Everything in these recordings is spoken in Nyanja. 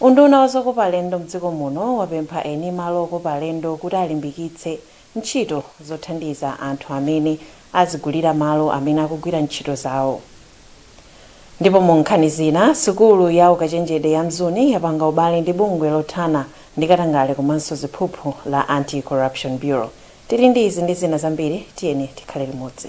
Unduna wa zokopa alendo mdziko muno wapempha eni malo okopa alendo kuti alimbikitse ntchito zothandiza anthu amene azungulira malo amene akugwira ntchito zawo. Ndipo mu nkhani zina, sukulu ya ukachenjede ya Mzuni yapanga ubale ndi bungwe lothana ndi katangale komanso ziphuphu la Anti-Corruption Bureau. Tili ndi izi ndi zina zambiri, tiyeni tikhale limodzi.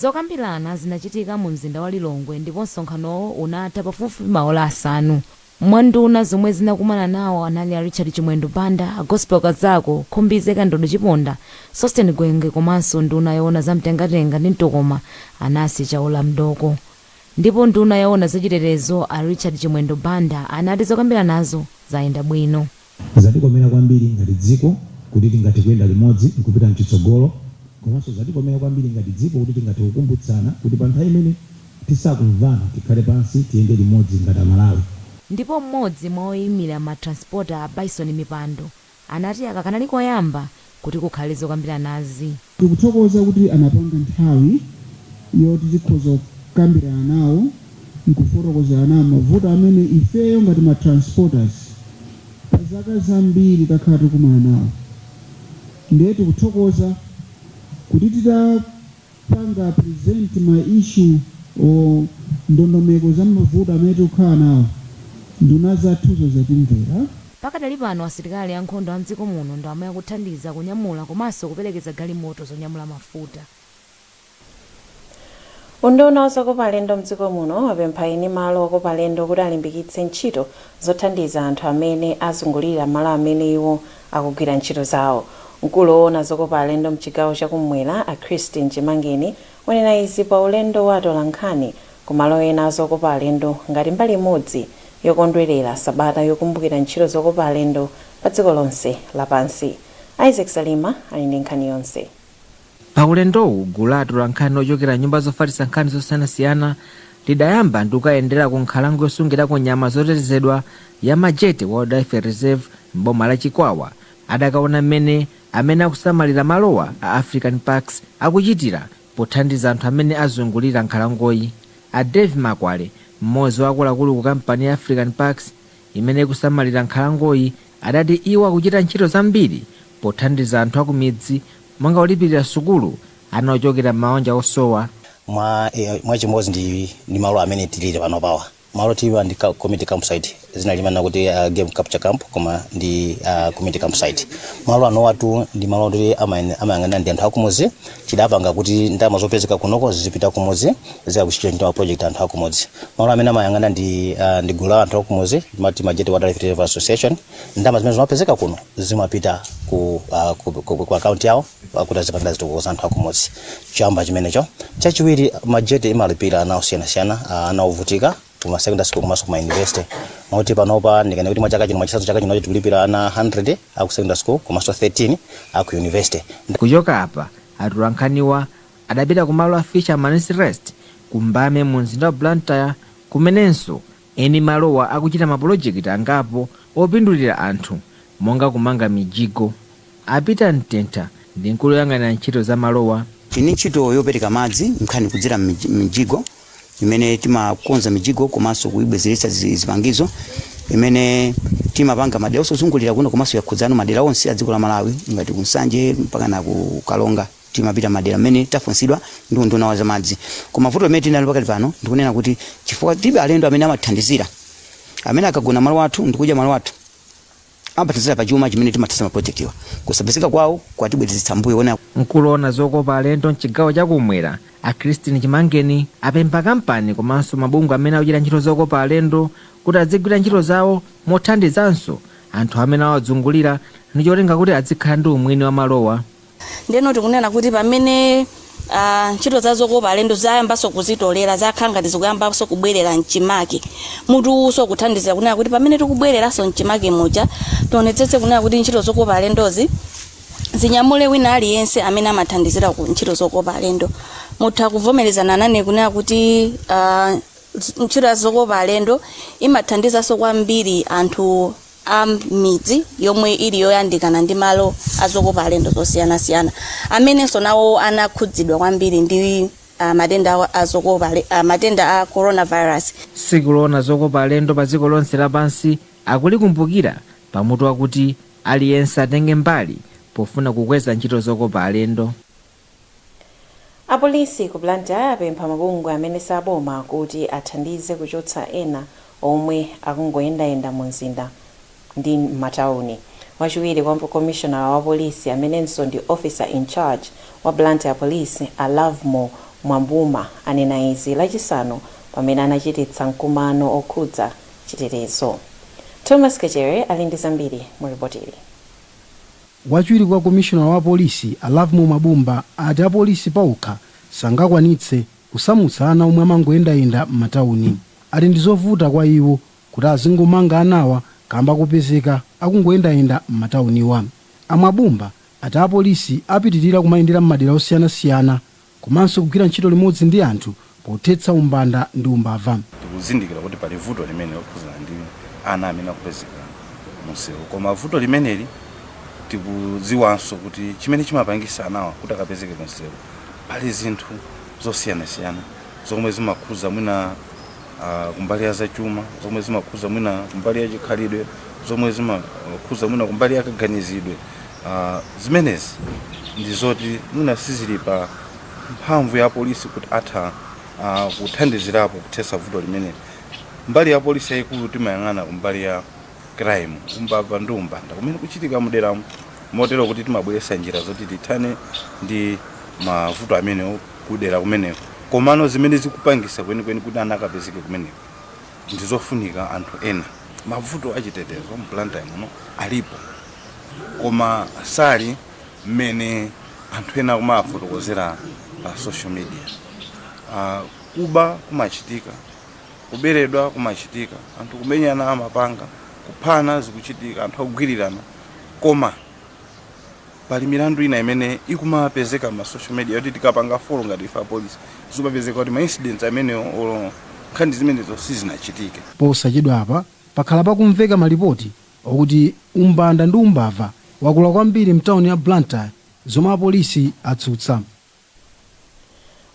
Zokambirana zinachitika mu mzinda wa Lilongwe ndipo msonkhanowo unatha pafupifupi maola asanu. Mwa nduna zomwe zinakumana nawo anali a Richard Chimwendo Banda, a Gospel Kazako, Khumbize Kandodo Chiponda, Sosten Gwengwe komanso nduna yoona za mtengatenga ndi mtokoma a Nancy Chaola Mdooko. Ndipo nduna yoona zachitetezo a Richard Chimwendo Banda anati zokambiranazo zayenda bwino. Zatikomera kwambiri ngati dziko kuti tingathe kuyenda limodzi nkupita mchitsogolo komanso zatikomera kwambiri ngati dziko kuti tingathe kukumbutsana kuti pa nthawi imene tisakumvana tikhale pansi tiyende limodzi ngati amalawi. Ndipo mmodzi mwa oyimira ma transporter a Byson Mipando anati aka kanali koyamba kuti kukhale zokambiranazi. Tikuthokoza kuti anapanga nthawi yoti tikhoza kukambirana nawo n'kufotokozera nawo mavuto amene ifeyo ngati ma transporters pa zaka zambiri takhala tikumana nawo ndiye tikuthokoza kuti titapanga present ma issue or ndondomeko za mavuto amene tikukhala nawo nduna zathuzo zatimvera. Pakadali pano asilikali ankhondo a mdziko muno ndi amene akuthandiza kunyamula komanso kuperekeza galimoto zonyamula mafuta. Unduna wa zokopa alendo mdziko muno wapempha eni malo okopa alendo kuti alimbikitse ntchito zothandiza anthu amene azungulira malo amene iwo akugwira ntchito zawo. Mkulu owona zokopa alendo mchigawo chakummwera a Christine Chimangeni Wanena izi pa ulendo wa atolankhani ku malo ena a zokopa alendo ngati mbali imodzi yokondwelera sabata yokumbukira ntchito zokopa alendo pa dziko lonse lapansi. Isaac Salima ali ndi nkhani yonse. Pa ulendowu, gulu la atolankhani ochokera m'nyumba zofalitsa nkhani zosiyanasiyana lidayamba ndi kukayendera ku nkhalango yosungirako nyama zotetezedwa ya Majete Wildlife Reserve m'boma la Chikwawa adakaona m'mene amene akusamalira malowa a African Parks akuchitira pothandiza anthu amene azungulira nkhalangoyi. A Dave Makwale, mmodzi wa akuluakulu ku kampani ya African Parks imene ikusamalira nkhalangoyi adati iwo akuchita ntchito zambiri pothandiza anthu akumidzi monga kulipirira sukulu ana ochokera m'mawanja osowa. Mwa chimodzi ndi malo amene tilili panopawa. Malo atiwa ndi ka, community campsite dzina limanena kuti uh, game capture camp koma ndi uh, community campsite malo ano watu ndi malo kuti amayen- amayang'anira ndi anthu akumudzi chidapanga kuti ndalama zopezeka kunoko zizipita kumudzi zikachitire ntchito project anthu akumudzi malo amene amayang'ana ndi uh, ndi gulu la anthu akumudzi amati Majete Wildlife Reserve Association ndalama zimene zimapezeka kuno zimapita ku, uh, ku, ku, ku account yawo akuti azipangira zitukuko za anthu akumudzi choyamba chimenecho chachiwiri Majete imalipira ana osiyanasiyana ah, ana ovutika kuma secondary school komanso kuma university moti panopa ndikanene kuti mwachaka chino mwachitsanzo chaka chino tikulipira ana 100 aku secondary school komanso 13 aku university kuchoka apa atolankhaniwa adapita kumalo a Fisherman's Rest ku Mbame mu mzinda wa Blantyre kumenenso Eni malowa akuchita mapolojekiti angapo opindulira anthu monga kumanga mijigo. A Peter Mtenta ndi mkulu oyang'anira ntchito za malowa. Iyi ndi ntchito yopereka madzi aukhondo kudzera m'mijigo imene timakonza mijigo komanso kuibwezeretsa zipangizo imene timapanga madera ozungulira kuno komanso yakhudzanso madera onse a dziko la Malawi ngati ku Nsanje mpakana ku Karonga. Timapita m'madera mmene tafunsidwa ndi unduna wa zamadzi. Koma vuto limene tili nalo pakali pano ndi kunena kuti chifukwa tilibe alendo amene amatithandizira, amene akagona malo athu ndi kudya malo athu, amatithandizira pa chuma chimene timathandiza mapulojekitiwa, kusapezeka kwawo kwatibwezeretsa m'mbuyo, onena kuti. Mkulu oona zokopa alendo m'chigawo cha kummwera, a Christine Chimangeni, apempha kampani komanso mabungwe amene akuchita ntchito zokopa alendo kuti adzigwira ntchito zawo mothandizana ndi anthu amene awadzungulira ndi cholinga kuti adzikhala ndi umwini wa malowa. ndeno tikunena kuti pamene ah, ntchito za zokopa alendo zayambanso kuzitolera zakhala ngati zikuyambanso kubwerera mchimake mutuwu ukuthandizira kunena kuti pamene tikubwereranso mchimake muja tionetsetse kunena kuti ntchito zokopa alendozi zinyamule wina aliyense amene amathandizira ku ntchito zokopa alendo mutha kuvomerezana nane kunena kuti ah, z- ntchito ya zokopa alendo imathandizanso kwambiri anthu a midzi yomwe ili yoyandikana ndi malo azokopa alendo zosiyanasiyana amenenso nawo anakhudzidwa kwambiri ndi uh, matenda awa- azokopa ale- uh, matenda a coronavirus tsiku loona zokopa alendo pa dziko lonse lapansi akulikumbukira pa mutu wakuti aliyense atenge mbali pofuna kukweza ntchito zokopa alendo Apolisi ku Blantyre apempha mabungwe amene si aboma kuti athandize kuchotsa ana omwe akungoyendayenda mumzinda ndi m'matauni. Wachiwiri kwa komishonala wa polisi amenenso ndi Officer in Charge wa Blantyre Police a Lovemore Mwambuma anena izi Lachisanu pamene anachititsa mkumano okhudza chitetezo. Thomas Kachere ali ndi zambiri mu ripotili. Wachiwiri kwa komishona wa apolisi, a Lovemore Mwabumba, ati apolisi paokha sangakwanitse kusamutsa ana omwe amangoyendayenda m'matauni. Ati ndi zovuta kwa iwo kuti azingomanga anawa kamba kopezeka akungoyendayenda m'matauniwa. A Mwabumba ati apolisi apitirira kumayendera m'madera osiyanasiyana komanso kugwira ntchito limodzi ndi anthu pothetsa umbanda ndi umbava. Tikuzindikira kuti pali vuto limene lokhudzana ndi ana amene akupezeka munsewu koma vuto limeneli tikudziwanso kuti chimene chimapangisa anawa kuti akapezeke kunsewu pali zinthu zosiyanasiyana zomwe zimakhudza mwina kumbali ya zachuma, zomwe zimakhudza mwina kumbali ya chikhalidwe, zomwe zimakhudza mwina kumbali ya kaganizidwe. Uh, zimenezi ndi zoti mwina sizili pa mphamvu ya polisi kuti atha uh, kuthandizirapo kuthetsa vuto limeneli mbali ya polisi yayikulu timayang'ana kumbali ya crime umbava ndi umbanda umene ukuchitika muderamo motero kuti timabweretsa njira zoti tithane ndi mavuto amenewo kudera kumeneko komano zimene zikupangisa kwenikweni kuti ana akapezeke kumeneko ndizofunika anthu ena mavuto achitetezo mu Blantyre muno alipo koma sali mmene anthu ena akumawafotokozera pa social media uh, kuba kumachitika kuberedwa kumachitika anthu kumenyana amapanga kuphana zikuchitika anthu akugwirirana koma pali milandu ina imene ikumapezeka ma social media yoti tikapanga follow ngati ife apolisi zikumapezeka kuti ma incidents amenewo olo nkhani zimenezo sizinachitike. Posachedwa apa pakhala pakumveka malipoti okuti umbanda ndi umbava wakula kwambiri mtauni ya Blantyre zomwe apolisi atsutsa.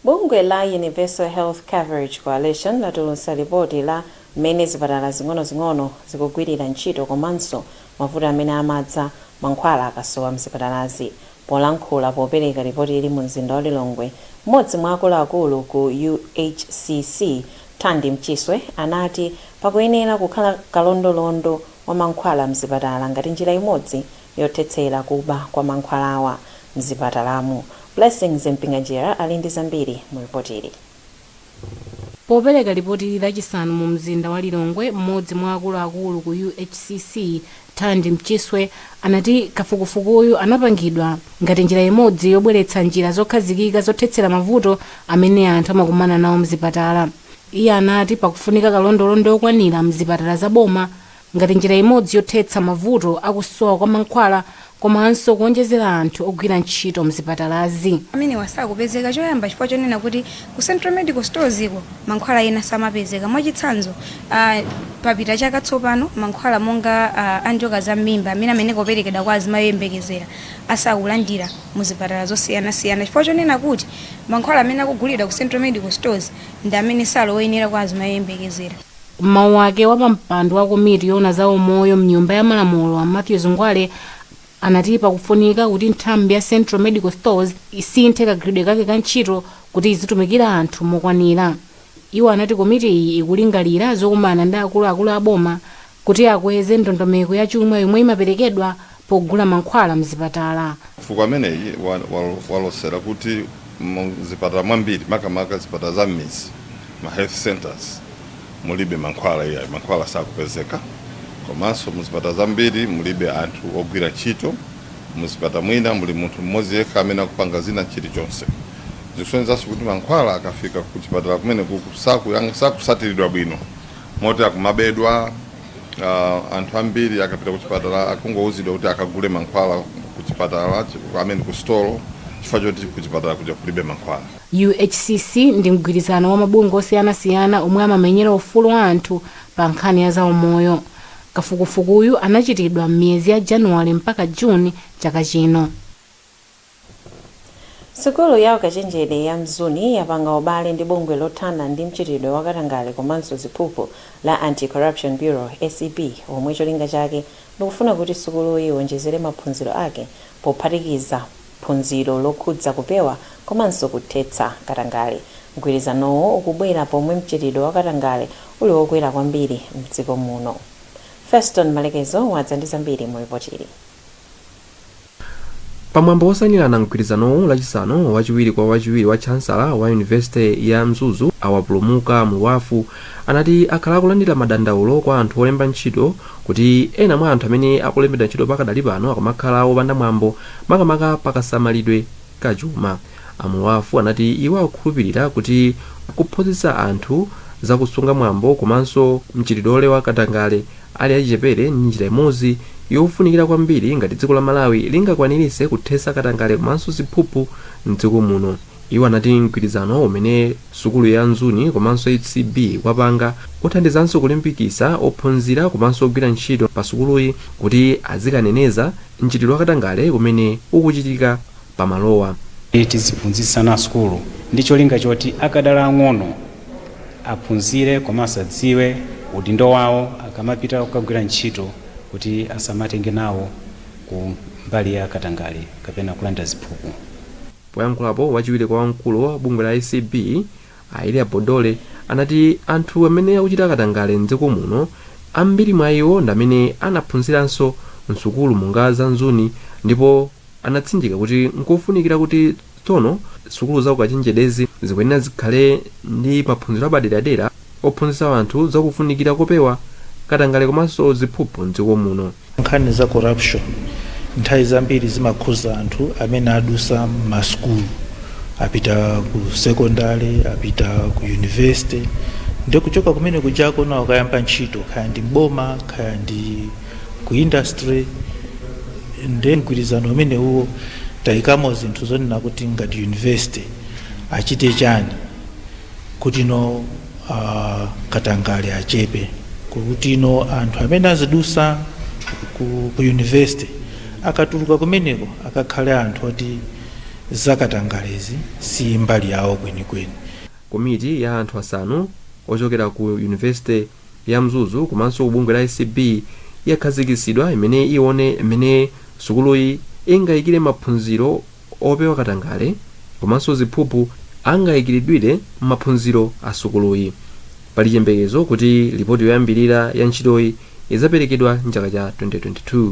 Bungwe la Universal Health Coverage Coalition latulutsa lipoti la mmene zipatala zing'onozing'ono zikugwirira ntchito komanso mavuto amene amadza mankhwala akasowa mzipatalazi. Polankhula popereka lipotili mu mzinda wa Lilongwe, mmodzi mwa akuluakulu ku UHCC, Thandi Mchiswe, anati pakuyenera kukhala kalondolondo wa mankhwala mzipatala ngati njira imodzi yothetsera kuba kwa mankhwalawa m'zipatalamu. Blessings Mpinganjira ali ndi zambiri mu ripotili. Popereka lipotili lachisanu mu mzinda wa Lilongwe, m'modzi mwa akuluakulu ku UHCC, Thandi Mchiswe, anati kafukufukuyu anapangidwa ngati njira imodzi yobweretsa njira zokhazikika zothetsera mavuto amene anthu amakumana nawo m'zipatala. Iye anati pakufunika kalondolondo okwanira m'zipatala za boma Ngati njira imodzi yothetsa mavuto a kusowa kwa mankhwala komanso kuonjezera anthu ogwira ntchito mzipatalazi. Amenewa asakupezeka, choyamba chifukwa chonena kuti ku Central Medical Stores ko mankhwala ena samapezeka. Mwachitsanzo, a papita chaka tsopano mankhwala monga a a njoka za m'mimba amene amayeneka kuperekedwa kwa azimayi oyembekezera a sakulandira mu zipatala zosiyanasiyana chifukwa chonena kuti mankhwala amene akugulidwa ku Central Medical Stores ndi amene sali oyenera kwa azimayi oyembekezera. M'mawu ake wapampando wa komiti yoona za umoyo mnyumba ya malamulo a Matthews Ngwale anati pakufunika kuti nthambi ya Central Medical Stores isinthe kagwiridwe kake ka ntchito kuti izitumikira anthu mokwanira. Iwo anati komitiyi ikulingalira zokumana ndi akuluakulu a boma kuti akweze ndondomeko ya chuma yomwe imaperekedwa pogula mankhwala m'zipatala. Kafukufuku ameneyi walosera kuti m'zipatala mwambiri, makamaka zipatala za m'midzi, ma health centres, mulibe mankhwala iyayi, mankhwala sakupezeka komanso muzipatala zambiri mulibe anthu ogwira ntchito, muzipatala mwina muli munthu m'modzi yekha amene akupanga zina chilichonse. Zikusonyezanso kuti mankhwala akafika kuchipatala kumenekuku sakusatiridwa bwino moti akumabedwa. Uh, anthu ambiri akapita kuchipatala akungouzidwa kuti akagule mankhwala kuchipatala amene ku stolo chifukwa choti kuchipatala kuja kulibe mankhwala. UHCC ndi mgwirizano wa mabungwe osiyanasiyana omwe amamenyera ufulu wa anthu pa nkhani ya zaumoyo. Kafukufukuyu anachitidwa m'miyezi ya Januwale mpaka Juni chaka chino. Sukulu ya ukachenjede ya Mzuni yapanga ubale ndi bungwe lothana ndi mchitidwe wa katangale komanso ziphuphu la Anti-Corruption Bureau, acb, omwe cholinga chake ndikufuna kuti sukuluyi iwonjezere maphunziro ake pophatikiza phunziro lokhudza kupewa komanso kuthetsa katangale. Mgwirizanowu ukubwera pomwe mchitidwe wa katangale uli wokwera kwambiri mdziko muno. Feston Malekezo wadza ndi zambiri mu ripotili. Pamwambo wosainirana mgwirizanowu lachisanu, wachiwiri kwa wachiwiri wa chansala wa University ya Mzuzu a Wapulumuka Mulwafu anati akhala akulandira madandaulo kwa anthu olemba ntchito kuti ena mwa anthu amene akulembedwa ntchito pakadali pano akumakhala opanda mwambo makamaka pakasamalidwe ka chuma. A Mulwafu anati iwo akukhulupirira kuti kuphunzitsa anthu za kusunga mwambo komanso mchitidwe olewa katangale ali achichepere ndi njira imodzi yofunikira kwambiri ngati dziko la Malawi lingakwaniritse kuthetsa katangale komanso ziphuphu m'dziko muno. Iwo anati mgwirizano umene sukulu ya Mzuni komanso ACB wapanga uthandizanso kulimbikitsa ophunzira komanso ogwira ntchito pa sukuluyi kuti azikaneneza mchitidwe wa katangale umene ukuchitika pa malowa. Tiziphunzitsa ana a sukulu ndi cholinga choti akadali ang'ono aphunzire komanso adziwe udindo wawo akamapita kukagwira ntchito kuti asamatenge nawo ku mbali ya katangale kapena kulanda ziphuphu. Poyankhulapo wachiwiri kwa wamkulu wa bungwe la ACB a Eliya Bodole anati anthu amene akuchita katangale m'dziko muno ambiri mwa iwo ndi amene anaphunziranso m'sukulu monga za Mzuni ndipo Anatsindika kuti nkofunikira kuti tsono sukulu za ukachenjedezi zikuyenera zikhale ndi maphunziro apaderadera ophunzitsa anthu za kufunikira kopewa katangale komanso ziphuphu m'dziko muno. Nkhani za corruption nthawi zambiri zimakhuza anthu amene adutsa m'masukulu, apita ku sekondale, apita ku university, nde kuchoka kumene kujako ena akayamba ntchito kaya ndi m'boma kaya ndi. ku industry nde mgwirizano umene uwo tayikamo zinthu zonena kuti ngati university achite chani kuti no uh, katangale achepe kuti no anthu amene azidutsa ku, ku university akatuluka kumeneko akakhale anthu oti zakatangalezi si mbali yawo kwenikweni komiti ya anthu asanu ochokera ku university ya Mzuzu komanso ku bungwe la ACB yakhazikitsidwa imene ione mmene sukuluyi ingayikire maphunziro opewa katangale komanso ziphuphu angayikiridwire mmaphunziro a sukuluyi. Pali chiyembekezo kuti lipoti yoyambirira ya ntchitoyi idzaperekedwa mchaka cha 2022.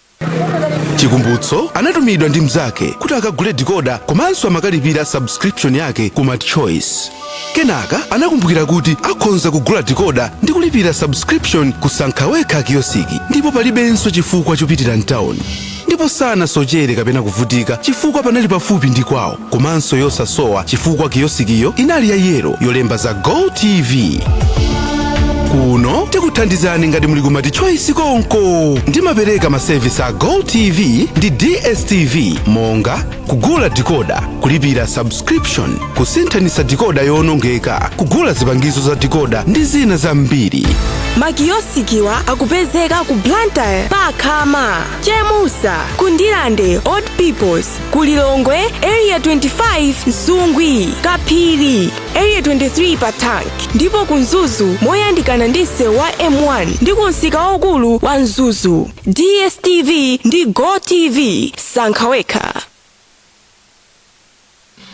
Chikumbutso anatumidwa ndi mnzake kuti akagule dikoda komanso amakalipira subscription yake ku MultiChoice kenaka anakumbukira kuti akhonza kugula dikoda ndi kulipira subscription ku Sankha Wekha kiyosiki ndipo palibenso chifukwa chopitira mtawuni ndipo sanasochere kapena kuvutika chifukwa panali pafupi ndi kwawo komanso yosasowa chifukwa kiyosikiyo inali ya yelo yolemba za GOtv kuno tikuthandizani ngati muli ku MultiChoice konko timapereka masevisi a GOtv ndi DStv monga kugula dikoda kulipira subscription kusinthanitsa dikoda yowonongeka kugula zipangizo za dikoda ndi zina zambiri makiyosikiwa akupezeka ku Blantyre pa Khama Chemusa ku Ndirande Old Peoples ku Lilongwe Area 25 Nsungwi Kaphiri Area 23 pa Tank ndipo ku Mzuzu moyandikana ndi msewu wa M1 ndi ku msika waukulu wa Mzuzu DStv ndi GOtv sankha wekha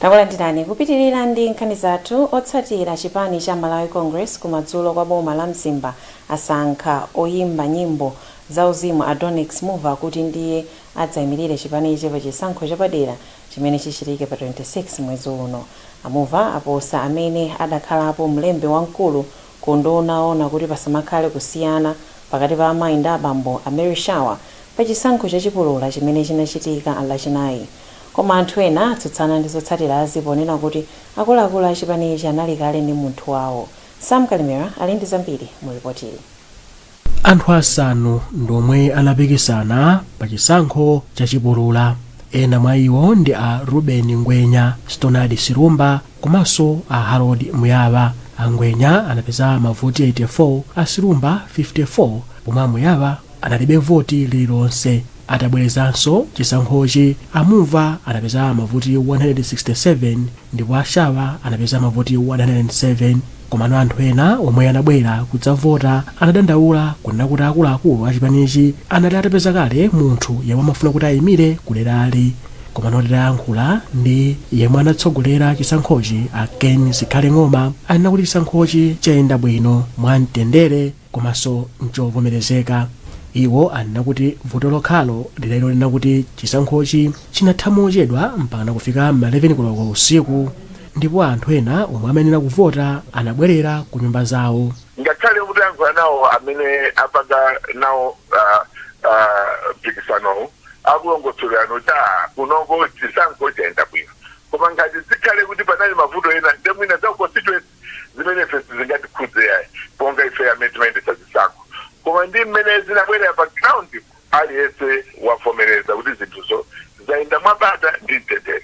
Takulandirani kupitilira ndi nkhani zathu Otsatira chipani cha Malawi Congress kumadzulo kwa boma la Mzimba asankha oyimba nyimbo za uzimu a Donnex Muva kuti ndiye adzaimilire chipanichi pa chisankho chapadera chimene chichitike pa 26 mwezi uno. A Muva aposa amene adakhalapo mlembi wamkulu Ku unduna owona kuti pasamakhale kusiyana pakati pa amayi ndi abambo a Mary Shawa pa chisankho cha chipulula chimene chinachitika lachinayi. Koma anthu ena atsutsana ndi zotsatirazi ponena kuti akuluakulu a chipanichi anali kale ndi munthu wawo. Sam Kalimera ali ndi zambiri mu ripotili. Anthu asanu ndi omwe anapikisana pa chisankho cha chipulula. Ena mwa iwo ndi a Reuben Ngwenya, Stonard Silumba komanso a Harold Muyaba. A Ngwenya anapeza mavoti 84, a Silumba 54 pomwe a Muyaba analibe voti lililonse. Atabwerezanso chisankhochi, a Muva anapeza mavoti 167. ndipo a Shawa anapeza mavoti 107 komano anthu ena omwe anabwera kudzavota anadandaula kunena kuti akuluakulu achipanichi anali atapeza kale munthu yemwe amafuna kuti ayimire kuderali komano titayankhula ndi yemwe anatsogolera chisankhochi a Ken Zikhale Ng'oma anena kuti chisankhochi chayenda bwino mwamtendere komanso n'chovomerezeka. Iwo anena kuti vuto lokhalo lidali lonena kuti chisankhochi chinatha mochedwa mpaka kufika ma 11 koloko usiku ndipo anthu ena omwe amayenera kuvota anabwerera ku nyumba zawo. Ngakhale mutayankhula nawo amene apanga nawo uh, uh, mpikisanowu akulongosolerani kuti ah, kunoko chisankho chayenda bwino koma ngati zikhale kuti panali mavuto ena nde mwina za constituency Zimene ife sizingatikhudze yayi monga ife amene timayendetsa zisankho. Koma ndi mmene zinabwerera pa ground po, aliyense wavomereza kuti zinthuzo zayenda mwa bata ndi mtendere.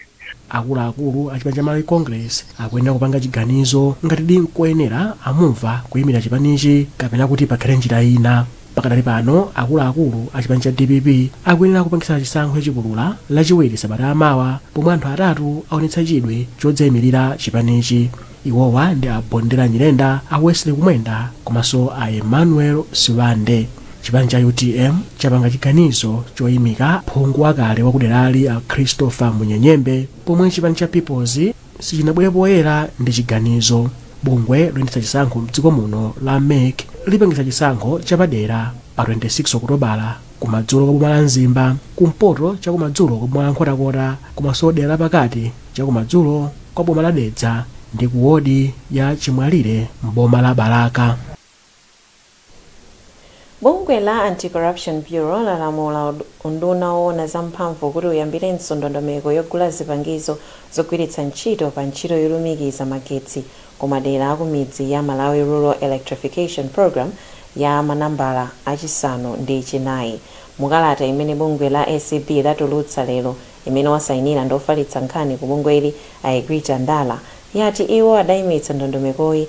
Akuluakulu a chipani cha Malawi Congress akuyenera kupanga chiganizo ngatidi nkoyenera a Muva kuyimira chipanichi kapena kuti pakhale njira ina. Pakadali pano akuluakulu a chipani cha dpp akuyenera kupangitsa chisankho cha chipulula lachiwiri sabata ya mawa pomwe anthu atatu aonetsa chidwi chodzayimilira chipanichi. Iwowa ndi a Bondera Nyirenda, a Wesley Kumwenda komanso a Emmanuel Sibande. Chipani cha utm chapanga chiganizo choyimika phungu wakale wakuderali a Christopher Munyenyembe pomwe chipani cha People's. sichinabwere poyera ndi chiganizo bungwe loyendetsa chisankho mdziko muno la mec lipangitsa chisankho chapadera pa 26 okutobala kumadzulo kwa boma la mzimba kumpoto cha kumadzulo kwa boma la nkhotakota komanso dera lapakati cha kumadzulo kwa boma la dedza ndi ku wodi ya chimwalire m'boma la balaka Bungwe la Anti-Corruption Bureau lalamula unduna woona za mphamvu kuti uyambirenso ndondomeko yogula zipangizo zogwiritsa ntchito pa ntchito yolumikiza magetsi ku madera akumidzi ya Malawi Rural Electrification Programme ya manambala achisanu ndi chinayi. Mu kalata imene bungwe la ACB latulutsa lero imene wasainira ndi ofalitsa nkhani ku bungweli a Egrita Ndala yati iwo adaimitsa ndondomekoyi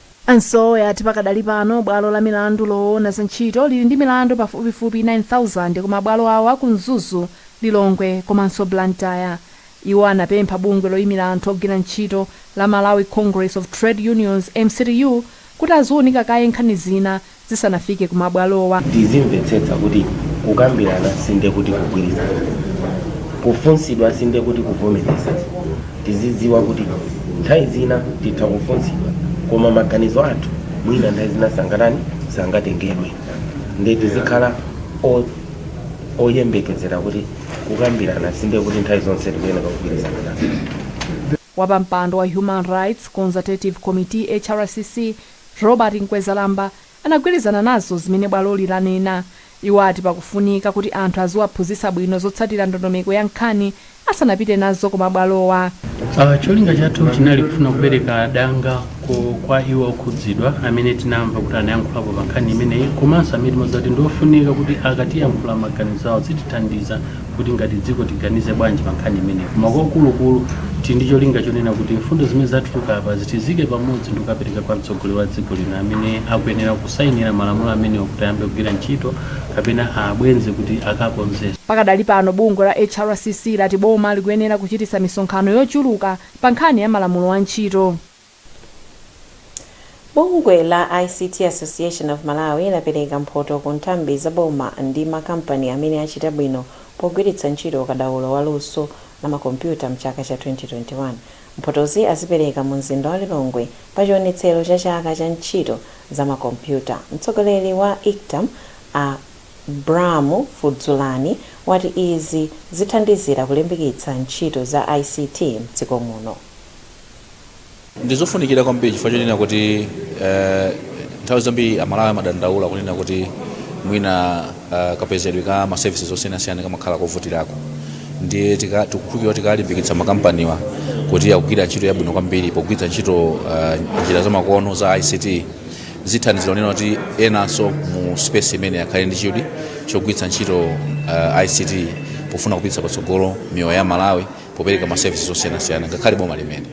A Msowoya ati pakadali pano bwalo la milandu loona za ntchito lili ndi milandu pafupifupi 9,000 ku mabwalo awo a ku Mzuzu, Lilongwe komanso Blantyre. Iwo anapempha bungwe loimira anthu ogwira ntchito la Malawi Congress of Trade Unions, MCTU, kuti aziunika kaye nkhani zina zisanafike ku mabwalowa. Tizimvetsetsa kuti kukambirana sinde kuti kugwirizana, kufunsidwa sinde kuti kuvomereza. Tizidziwa kuti nthawi zina titha kufunsidwa koma maganizo athu mwina nthawi zina sangatani, sangatengedwe nde tizikhala o oyembekezera kuti kukambirana sinde kuti nthawi zonse tikuyenera kugwirizana. Wapampando wa Human Rights Consultative Committee, HRCC, Robert Mkwezalamba anagwirizana nazo zimene bwaloli lanena. Iwo ati pakufunika kuti anthu aziwaphunzitsa bwino zotsatira ndondomeko ya nkhani asanapite nazo kumabwalowa. Cholinga chathu chinali kufuna kupereka danga kwa iwo okhudzidwa amene tinamva kuti anayankhulapo pa nkhani imeneyi komanso amene timadziwa kuti ndi ofunika kuti akatiyankhula maganizo awo zitithandiza kuti ngati dziko tiganize bwanji pa nkhani imeneyi koma kwakukulukulu tili ndi cholinga chonena kuti mfundo zimene zatuluka apa tiziike pamodzi ndi kukapereka kwa mtsogoleri wa dziko lino amene akuyenera kusayinira malamulo amenewo kuti ayambe kugwira ntchito kapena abwenze kuti akakonzenso Pakadali pano bungwe la HRCC lati boma likuyenera kuchititsa misonkhano yochuluka pa nkhani ya malamulo a ntchito. Bungwe la ICT Association of Malawi lapereka mphoto ku nthambi za boma ndi makampani amene achita bwino pogwiritsa ntchito ukadaulo wa luso la makompyuta m'chaka cha 2021. Mphotozi azipereka mu mzinda wa Lilongwe pa chionetsero cha chaka cha ntchito za makompyuta. Mtsogoleri wa Ictam a Bram Fudzulani wati izi zithandizira kulimbikitsa ntchito za ICT m'dziko muno. ndizofunikira kwambiri chifukwa chonena kuti eh, nthawi zambiri aMalawi amadandaula kunena kuti mwina eh, kapezedwe ka ma services osiyanasiyana kamakhala kovutirako ndiye tika- tikukhulupirira kuti tikalimbikitsa makampaniwa kuti akugwira ntchito yabwino kwambiri pogwiritsa ntchito eh, njira zamakono za ICT zithandizira kunena kuti enanso mu space imene akhale ndi chidwi chogwiritsa ntchito eh, ICT pofuna kupititsa patsogolo miyoyo ya aMalawi popereka ma services osiyanasiyana ngakhale boma limene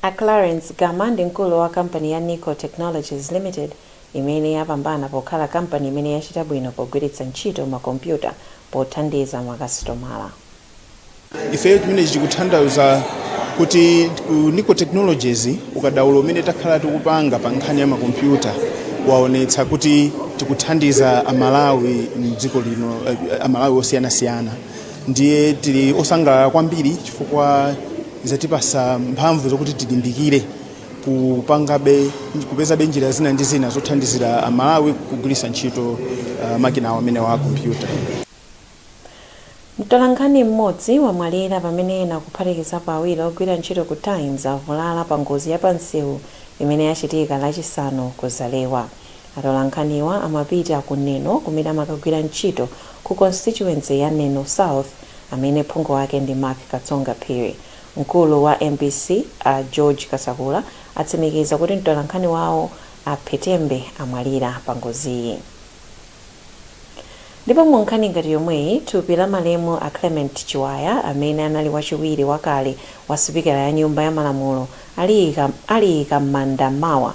A Clarence Gama ndi mkulu wa kampani ya Nico Technologies Limited imene yapambana pokhala kampani imene yachita bwino pogwiritsa ntchito makompyuta pothandiza makasitomala. ifeyo chimene chikutanthauza kuti nico technologies ukadaulo umene takhala tikupanga pa nkhani ya makompyuta waonetsa kuti tikuthandiza amalawi mdziko lino eh, amalawi osiyanasiyana ndiye tili osangalala kwambiri chifukwa zatipasa mphamvu zokuti tilimbikire kupangabe kupezabe njira zina ndi zina zothandizira amalawi kugwiritsa ntchito uh, makina amenewa a kompyuta mtolankhani mmodzi wamwalira pamene ena kuphatikizapo awiri ogwira ntchito ku times avulala pa ngozi ya pansewu imene yachitika lachisanu ku zalewa Atolankhaniwa amapita ku Neno kumene amakagwira ntchito ku constituency ya Neno South amene phungu wake ndi Mark Katsonga Phiri. Mkulu wa mbc a George Kasakula atsimikiza kuti mtolankhani wawo a Phetembe amwalira pa ngoziyi. Ndipo mu nkhani ngati yomweyi, thupi la malemu a Clement Chiwaya amene anali wachiwiri wakale wa sipikala ya nyumba ya malamulo aliyika m'manda mawa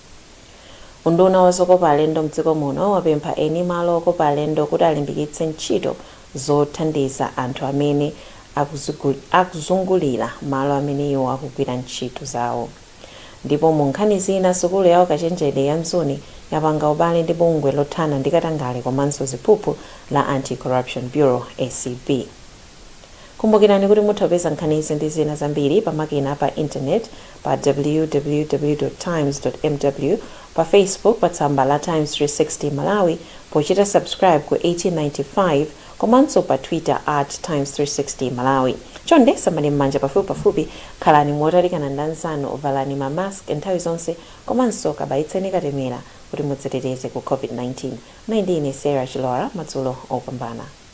Unduna wa zokopa alendo mdziko muno wapempha eni malo okopa alendo kuti alimbikitse ntchito zothandiza anthu amene akuzungulira malo amene iwo akugwira ntchito zawo. Ndipo mu nkhani zina sukulu ya ukachenjede ya Mzuni yapanga ubale ndi bungwe lothana ndi katangale komanso ziphuphu la Anti-Corruption Bureau, acb. Kumbukirani kuti mutha kupeza nkhanizi ndi zina zambiri pa makina a pa intaneti pa www. Times. mw, pa Facebook pa tsamba la Times 360 Malawi pochita subscribe ku 1895 komanso pa Twitter at Times 360 Malawi. Chonde sambani m'manja pafupipafupi, khalani motalikana ndi anzanu, valani ma mask nthawi zonse komanso kabayitseni katemera kuti mudziteteze ku Covid-19. Munali ndi ine Sarah Chilora, madzulo opambana.